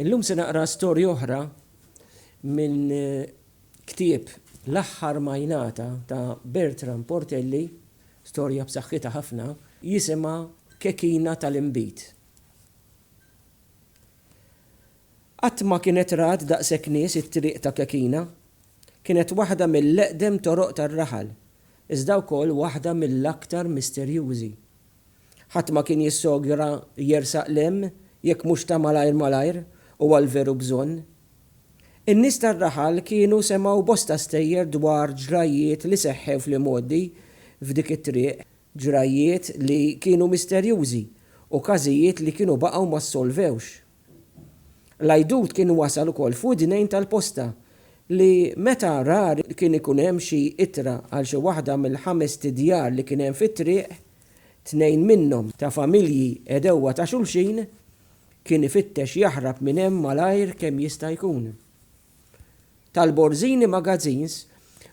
Illum se naqra storja oħra minn ktieb L-Aħħar Ma Jingħata ta' Bertram Portelli, storja b'saħħitha ħafna, jisimha Kekina tal-Inbid. Qatt ma kienet rat daqshekk nies it-triq ta' Kekina. Kienet waħda mill-eqdem toroq tar-raħal, iżda wkoll waħda mill-aktar misterjużi. Ħadd ma kien jissogra jersaq 'l hemm jekk mhux ta' malajr malajr u għall-veru bżonn. In-nies tar-raħal kienu semgħu bosta stejjer dwar ġrajjiet li seħħew fl-imgħoddi f'dik it-triq, ġrajjiet li kienu misterjużi u każijiet li kienu baqgħu ma ssolvewx. L-għidut kien wasal ukoll f'widnejn tal-posta li meta rari kien ikun hemm xi ittra għal xi waħda mill-ħamest djar li kien hemm fit-triq, tnejn minnhom ta' familji għedewwa ta' xulxin, kien ifittex jaħrab minn hemm malajr kemm jista' jkun. tal-Borzini Magazines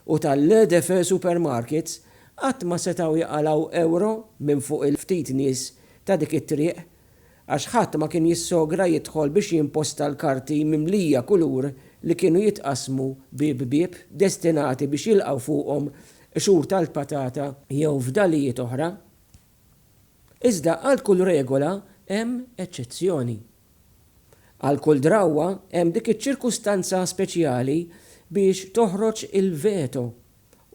u tal-Le Défait Supermarkets qatt ma setgħu jqalgħu ewro minn fuq il-ftit nies ta' dik it-triq għax ħadd ma kien jissogra jidħol biex jimposta l-karti mimlija kulur li kienu jitqassmu bieb bieb destinati biex jilqgħu fuqhom qxur tal-patata jew fdalijiet oħra. Iżda għal kull regola hemm eċċezzjoni. Għal kull drawwa hemm dik iċ-ċirkustanza speċjali biex toħroġ il-veto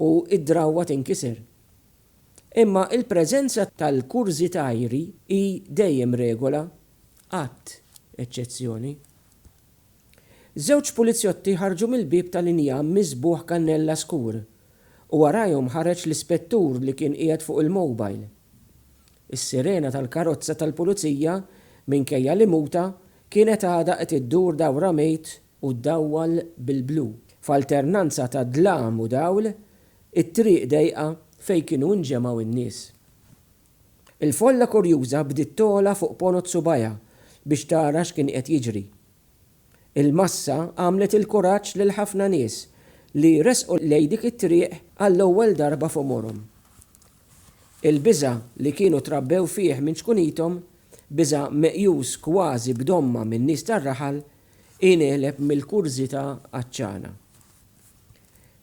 u d-drawwa tinkiser. Imma l-preżenza tal-kurżitajri hi dejjem regola, qatt eċċezzjoni. Żewġ pulizjotti ħarġu mill-bieb tal-injam miżbugħ kannella skur u warajhom ħareġ l-ispettur li kien qiegħed fuq il-mobile. Is-sirena tal-karozza tal-pulizija, minkejja li mgħuta, kienet għadha qed iddur dawra mejt u ddawwal bil-blu, f'alternanza ta' dlam u dawl, it-triq dejqa fejn kienu inġemgħu n-nies. Il-folla kurjuża bdiet togħla fuq ponot subajha biex tara x'kien qed jiġri. Il-massa għamlet il-kuraġġ lil ħafna nies li resqu lejn dik it-triq għall-ewwel darba f'għomorhom. Il-biża' li kienu trabbew fih minn ċkunithom, biża' meqjus kważi b'domma min-nies tar-raħal, ingħeleb mill-kurżità għatxana.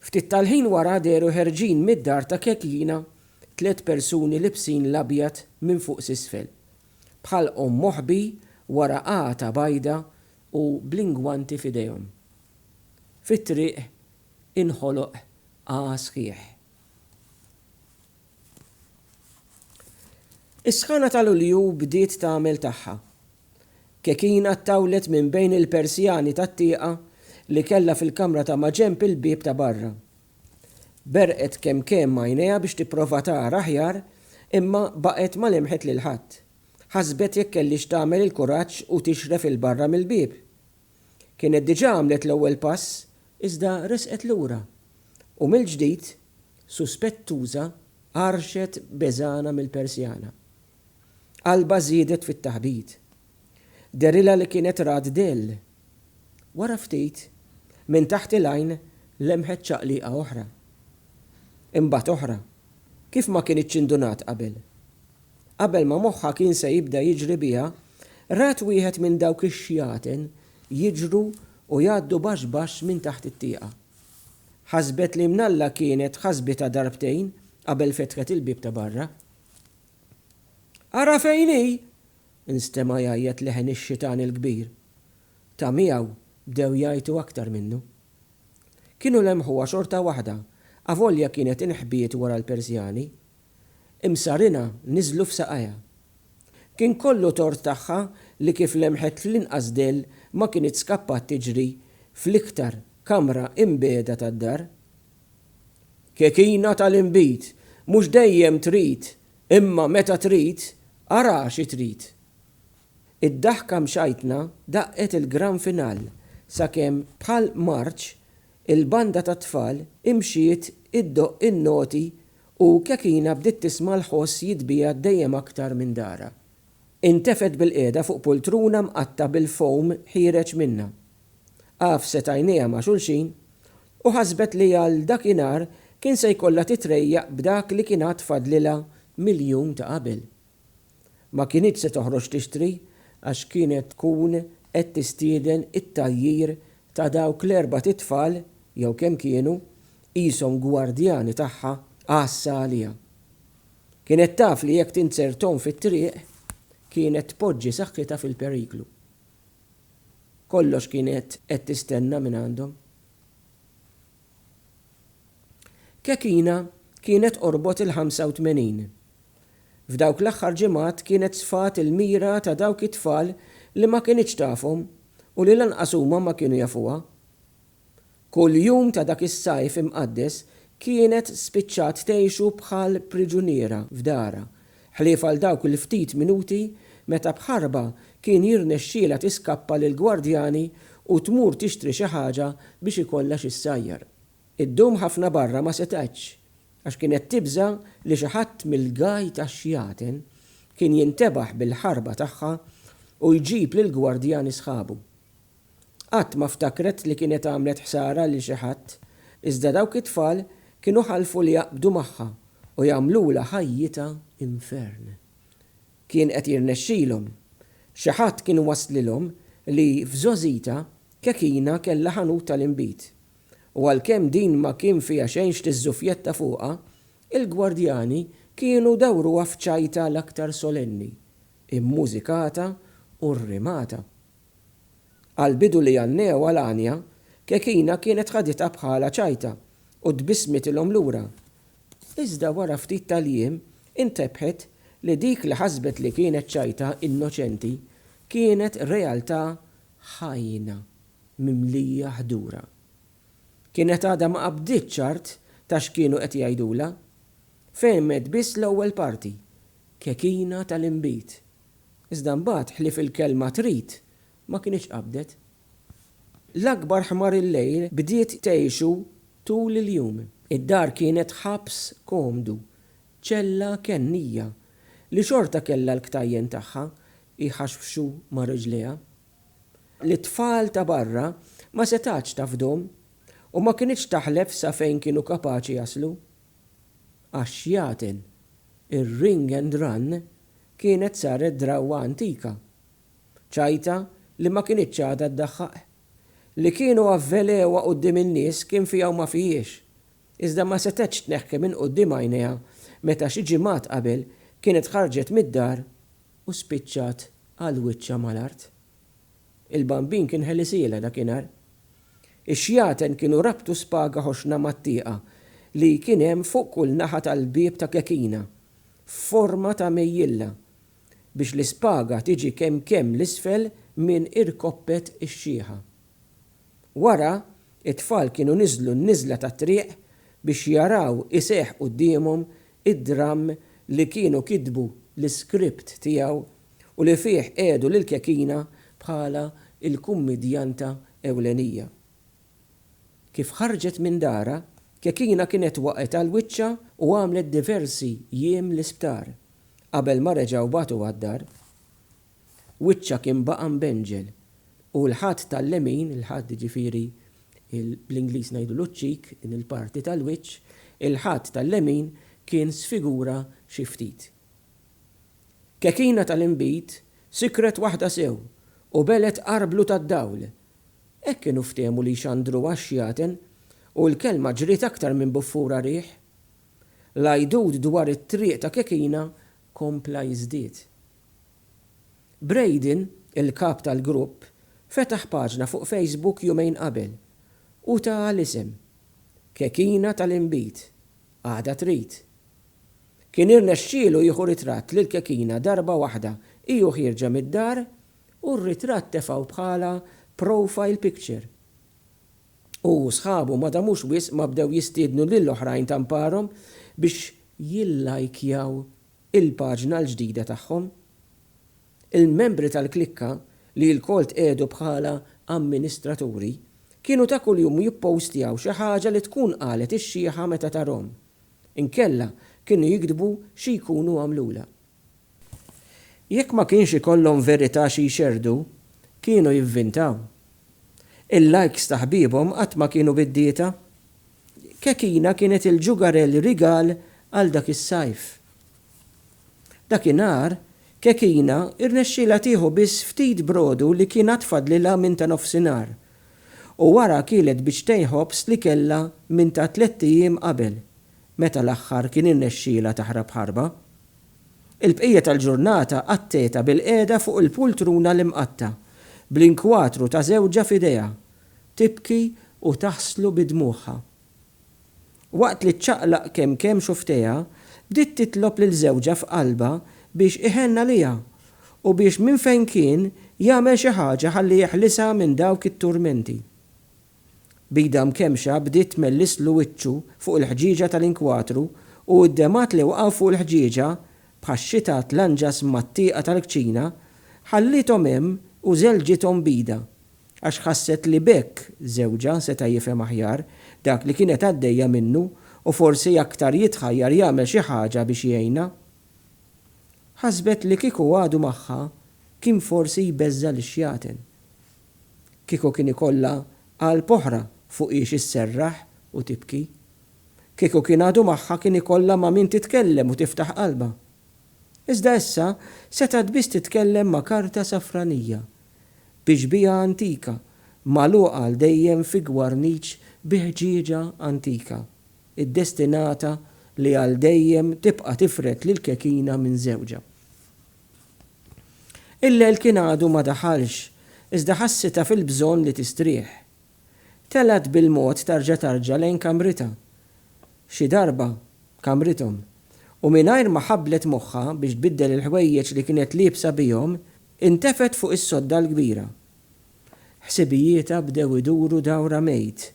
Ftit tal-ħin wara dehru ħerġin mid-dar ta' Kekjina tliet persuni libsin l-abjad minn fuq s'isfel, b'ħalqhom moħbi wara għata bajda u bl-ingwanti f'idejhom. Fit-triq inħoloq għagħa sħiħ. Is-sħana ta' Lulju bdiet tagħmel tagħha. Kekina ttawlet minn bejn il-persjani tat-tieqa li kellha fil-kamra ta' maġenb il-bieb ta' barra. Berqet kemm kemm għajnejha biex tipprova tara aħjar, imma baqgħet ma lemħet lil ħadd. Ħasbet jekk kellhiex tagħmel il-kuraġġ u tixref 'il barra mill-bieb. Kienet diġà għamlet l-ewwel pass, iżda resqet lura. U mill-ġdid, suspettuża, għarrxet beżgħana mill-persjana. Qalbha żiedet fit-taħbit. Dehrilha li kienet rat dell, Wara ftit, minn taħt il-għajn lemħet ċaqliqa oħra. Imbagħad oħra, kif ma kinitx indunat qabel. Qabel ma moħħha kien se jibda jiġri biha, rat wieħed minn dawk ix-xjaten jiġru u jgħaddu baxx baxx minn taħt it-tieqa. Ħasbet li mnalla kienet ħasbitha darbtejn qabel fetħet il-bieb ta' barra. Ara fejn hi! Instema' jgħajjat leħen ix-xitan il-kbir. Ta' miegħu bdew jgħajtu aktar minnu. Kienu lemħuha xorta waħda avolja kienet inħbiet wara l-persjani. Imsarinha niżlu f'saqajha. Kien kollu tort tagħha li kif lemħet l-inqas dell ma kinitx skappat tiġri fl-iktar kamra imbiegħda tad-dar. Kekina tal-inbid! Mhux dejjem trid Imma meta trid, ara xi trid! Id-daħka mxajtna daqqet il-gran final sakemm bħal marċ il-banda tat-tfal imxiet iddoqq in-noti u Kekina bdiet tisma' l-ħoss jitbiegħed dejjem aktar minn darha. Intefgħet bilqiegħda fuq pultruna mqatta' bil-foam ħiereġ minnha. Għafset għajnejha ma' xulxin u ħasbet li għal dakinhar kien se jkollha titrejjaq b'dak li kien għad fadlilha mill-jum ta' qabel. Ma kinitx se toħroġ tixtri għax kienet tkun qed tistieden it-tgħajjir ta' dawk l-erbat itfal, jew kemm kienu, qishom gwardjani tagħha għassa għaliha. Kienet taf li jekk tinzerthom fit-triq, kienet tpoġġi saħħitha fil-periklu. Kollox kienet qed tistenna mingħandhom. Kekina kienet qorbot il-85. F'dawk l-aħħar ġimgħat kienet sfat il-mira ta' dawk it-tfal li ma kinitx tafhom u li lanqas huma ma kienu jafuha. Kull jum ta' dak is-Sajf Imqaddes kienet spiċċat tgħixu bħal priġuniera f'darha, ħlief għal dawk il-ftit minuti meta b'ħarba kien jirnexxielha tiskappa lill-gwardjani u tmur tixtri xi ħaġa biex ikollha xi ssajjar. Iddum ħafna barra ma setgħetx, għax kienet tibża' li xi ħadd mill-gaj tax-xjaten kien jintebaħ bil-ħarba tagħha u jġib lill-gwardjani sħabu. Qatt ma ftakret li kienet għamlet ħsara lil xi ħadd, iżda dawk it-tfal kienu ħalfu li jaqbdu magħha u jagħmlulha ħajjitha infern. Kien qed jirnexxilhom. Xi ħadd kien wasslilhom li f'żgħożitha Kekina kellha ħanut tal-inbid. U għalkemm din ma kien fiha xejn x'tiżżuffjetta fuqha, il-gwardjani kienu dawruha f'ċajta l-aktar solenni, immużikata u rrimata. Għall-bidu li għannejha għal Anja, Kekina kienet ħaditha bħala ċajta u tbissmitilhom lura. Iżda wara ftit tal-jiem intebħet li dik li ħasbet li kienet ċajta innoċenti kienet realtà ħajjna mimlija ħdura. Kienet għadha ma qabditx ċart ta' x'kienu qed jgħidulha. Fehmet biss l-ewwel parti, Kekina tal-inbid. Iżda mbagħad ħlief il-kelma trid ma kinitx qabdet. L-akbar ħmar il-lejl bdiet tgħixu tul il-jum. Id-dar kienet ħabs komdu, ċella kennija, li xorta kellha l-ktajjen tagħha jħaxbxu ma' riġliha. Lit-tfal ta' barra ma setgħetx tafdhom u ma kinitx taħlef sa fejn kienu kapaċi jaslu. għax jagħten ir-ring and run kienet saret drawwa antika, ċajta li ma kinitx għadha ddaħħaq. Li kienu avvelewha quddiem in-nies kien fiha u ma fihiex, iżda ma setgħetx tneħħi minn quddiem għajnejha meta xi ġimgħat qabel kienet ħarġet mid-dar u spiċċat għal wiċċha mal-art. Il-Bambin kien ħelisielha dakinhar. Ix-xjaten kienu rabtu spaga ħoxna mat-tieqa li kien hemm fuq kull naħa tal-bieb ta' kekina f'forma ta' mejjilla biex l-ispaga tiġi kemm kemm 'l isfel minn irkoppet ix-xieħa. Wara, it-tfal kienu niżlu n-niżla tat-triq biex jaraw iseħħ quddiemhom id-dramm li kienu kitbu l-iskript tiegħu u li fih qiegħdu lil Kekina bħala l-kummidjanta ewlenija. Kif ħarġet minn darha, Kekina kienet waqgħet għal wiċċha u għamlet diversi jiem l-isptar, qabel ma reġgħu bagħtuha d-dar. wiċċha kien baqa' mbenġel u l-ħadd tal-lemin, il-ħadd jiġifieri bl-Ingliż ngħidulu ċ-cheek, din il-parti tal-wiċċ, il-ħadd tal-lemin kien sfigura xi ftit. Kekina tal-inbid sikret waħda sew u belgħet qargħa blu tad-dawl. Hekk kienu ftehmu li jxandruha x-xjaten u l-kelma ġriet aktar minn buffura riħ. L-għidut dwar it-triq ta' Kekina kompla jiżdied. Braden, il-kap tal-grupp, fetaħ paġna fuq Facebook jumejn qabel u taha l-isem, Kekina tal-Inbid, Għada Trid. Kien irnexxielu jieħu ritratt lill-kekina darba waħda hi u ħierġa mid-dar u r-ritratt tefgħu bħala profile picture. Hu u sħabu ma damux wisq ma bdew jistiednu lil oħrajn ta' mparhom biex jillajkjaw il-paġna l-ġdida tagħhom. Il-membri tal-klikka, li lkoll tqiegħdu bħala amministraturi, kienu ta' kuljum jippostjaw xi ħaġa li tkun qalet ix-xiħa meta tarhom. Inkella kienu jiktbu xi jkunu għamlulha. Jekk ma kienx ikollhom verità xi jxerrdu, kienu jivvintaw. Il-likes ta' ħbiebhom qatt ma kienu biddieta. Kekina kienet il-ġugarell rigal għal dak is-sajf. Dakinhar, Kekina rnexxielha tieħu biss ftit brodu li kien għad fadlilha minn ta' nofsinhar, u wara kielet biċtejn ħobż li kellha minn ta' tlett ijiem qabel, meta l-aħħar kien irnexxielha taħrab ħarba. Il-bqija tal-ġurnata qatgħetha bilqiegħda fuq il-pultruna l-imqatta', bl-inkwatru ta' żewġha f'idejha, tibki u taħslu bi dmugħha. Waqt li ċċaqlaq kemm kemm xufftejha, bdiet titlob lil żewġha f'qalbha biex iħenn għaliha u biex minn fejn kien jagħmel xi ħaġa ħalli jeħlisha minn dawk it-turmenti. B'idha mkemmxa bdiet tmellislu wiċċu fuq il-ħġieġa tal-inkwatru u d-demgħat li waqgħu fuq il-ħġieġa bħax-xita tlanġas mat-tieqa tal-kċina, ħalliethom hemm u żelġithom b'idha. għax ħasset li b'hekk żewġha seta' jifhem aħjar dak li kienet għaddejja minnu u forsi aktar jitħajjar jagħmel xi ħaġa biex jgħinha. Ħasbet li kieku għadu magħha kien forsi jbeżża' lix-xjaten. Kieku kien ikollha qalb oħra fuqhiex isserraħ u tibki. Kieku kien għadu magħha kien ikollha ma' min titkellem u tiftaħ qalbha. Iżda issa setgħet biss titkellem ma' karta safranija bi xbieha antika magħluqa għal dejjem fi gwarniċ bi ħġieġa antika, iddestinata li għal dejjem tibqa' tifred lill-kekina minn żewġha. Il-lejl kien għadu ma daħalx, iżda ħassitha fil-bżonn li tistrieħ. Telgħet bil-mod tarġa' tarġa' lejn kamritha, xi darba kamrithom, u mingħajr ma ħabblet moħħha biex tbiddel il-ħwejjeġ li kienet liebsa bihom, Intefgħet fuq is-sodda l-kbira. Ħsibijietha bdew iduru dawrha mejt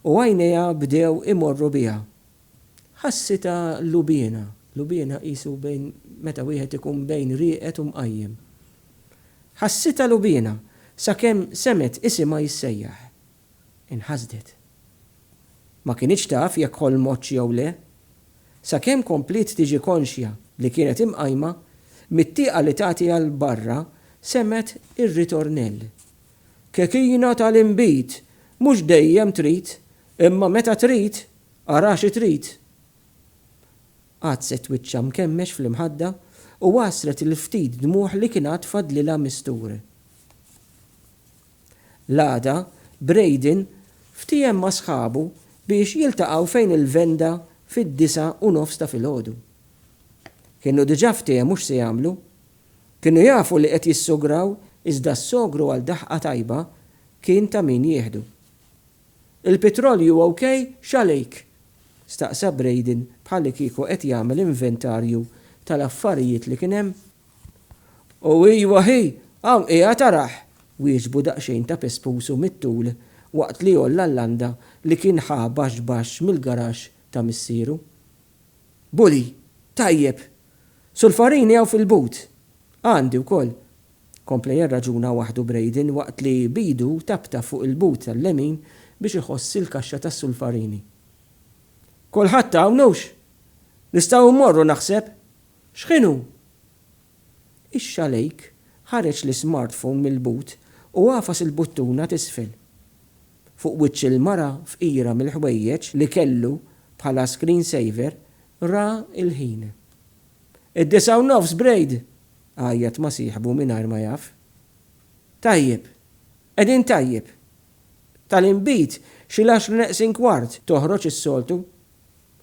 u għajnejha bdew imorru biha. Ħassitha lubiena, lubiena qisu bejn meta wieħed ikun bejn rieqed u mqajjem. Ħassitha lubiena sakemm semgħet isimha jissejjaħ. Inħasdet. Ma kinitx taf jekk ħolmotx jew le, sakemm kompliet tiġi konxja li kienet imqajma mit-tieqa li tagħti għal barra semgħet ir-ritornell, Kekina tal-inbid, mhux dejjem trid, imma meta trid, ara xi trid! Għaddset wiċċha mkemmex fl-imħadda u għasret il-ftit dmugħ li kien għad fadlilha mistur. L-għada, Braden ftiehem ma' sħabu biex jiltaqgħu fejn il-venda fid-disa' u nofs ta' filgħodu. Kienu diġà ftehmu x'se jagħmlu. Kienu jafu li qed jissograw iżda s-sogru għal daħqa tajba kien ta' min jieħdu. Il-pitrolju ok x'għalejk? staqsa Braden bħallikieku qed jagħmel inventarju tal-affarijiet li kien hemm. U ijwa hi, hawn qiegħed arah! wieġbu daqsxejn ta' pespusu mit-tul waqt li għolla l-landa li kien ħa baxx baxx mill-garaxx ta' missieru. Bully, Tajjeb! Sulfarini hawn fil-but! Għandi wkoll! kompla jirraġuna waħdu Braden waqt li b'idu taptap fuq il-but tal-lemin biex iħoss il-kaxxa tas-sulfarini. Kulħadd hawn, hux? Nistgħu mmorru naħseb? X'ħinu? Ix-xalejk ħareġ l-ismartphone mill-but u għafas il-buttuna t'isfel. Fuq wiċċ il-mara fqira mill-ħwejjeġ li kellu bħala screen saver ra l-ħin. Id-disgħa u nofs, Braid! għajjat ma' sieħbu mingħajr ma jaf. Tajjeb! Qegħdin tajjeb! Tal-inbid xi l-għaxra neqsin kwart toħroġ is-soltu.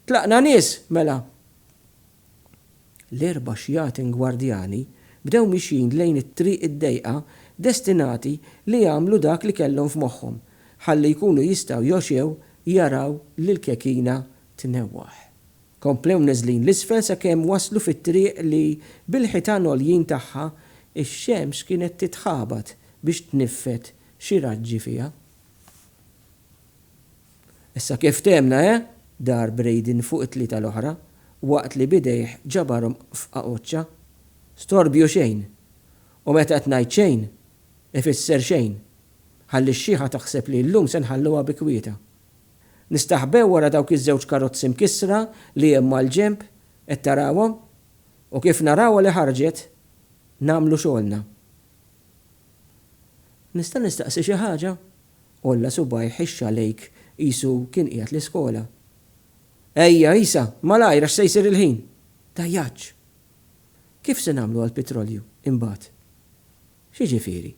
Tlaqna nies, mela! L-erba' xjatin gwardjani bdew mixjin lejn it-triq id-dejqa destinati li jagħmlu dak li kellhom f'moħħhom ħalli jkunu jistgħu jgħoxew jaraw lill-kekina tnewwaħ. Komplew neżlin 'l isfel sakemm waslu fit-triq li bil-ħitan għoljin tagħha x-xemx kienet titħabat biex tniffed xi raġġi fiha. Issa kif fthemna he? dar Braden fuq it-tlieta l-oħra waqt li b'idejh ġabarhom f'qagħoċċa. Storbju xejn! U meta qed ngħid xejn, ifisser xejn, ħalli x-xiħa taħseb li llum se nħalluha bi kwietha. Nistaħbew wara dawk iż-żewġ karozzi mkissra li hemm mal-ġenb, qed tarawhom? U kif narawha li ħarġet, nagħmlu xogħolna. Nista' nistaqsi xi ħaġa? Għolla subgħajh ħixxa lejk qisu kien qiegħed l-iskola. Ejja, Isa, malajr għax se jsir il-ħin! Dajjaċċ! Kif se nagħmlu għall-pitrolju, imbagħad? X'jiġifieri?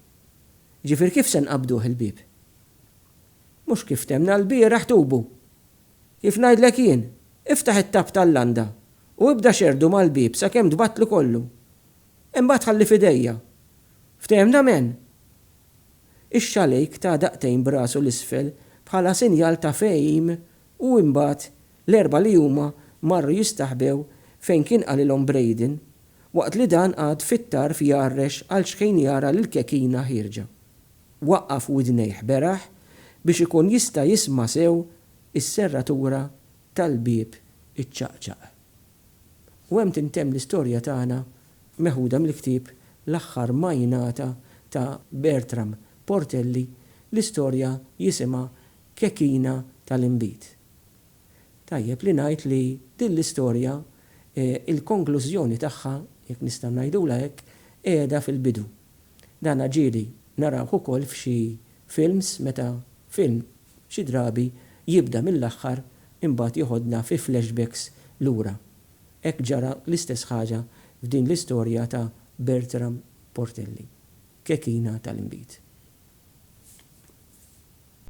Jiġifieri kif se nqabbduh il-bieb? Mhux kif ftemna lbieraħ tubu! Kif ngħidlek jien, iftaħ it-tapp tal-landa u ibda xerrdu mal-bieb sakemm tbattlu kollu. Imbagħad ħalli f'idejja. Ftehimna m'en? Ix-xalejk ta daqtejn b'rasu 'l isfel bħala sinjal ta' fehim u imbagħad l-erbgħa li huma marru jistaħbew fejn kien qalilhom Braden waqt li dan qagħad fit-tarf jgħarrex għal xħin jara lill-kekina ħierġa. Waqqaf widnejh beraħ biex ikun jista' jisma' sew is-serratura tal-bieb iċċaqċaq. U hemm tintemm l-istorja tagħna meħuda mill-ktieb L-Aħħar Ma Jingħata ta' Bertram Portelli, l-istorja jisimha Kekina tal-Inbid. Tajjeb li ngħid li din l-istorja il-konklużjoni tagħha, jekk nista' ngħidulha hekk, qiegħda fil-bidu. Dan ġieli narawh ukoll f'xi films meta film xi drabi jibda mill-aħħar imbagħad jeħodna fi flashbacks lura. Hekk ġara l-istess ħaġa f'din l-istorja ta' Bertram Portelli, Kekina tal-Inbid.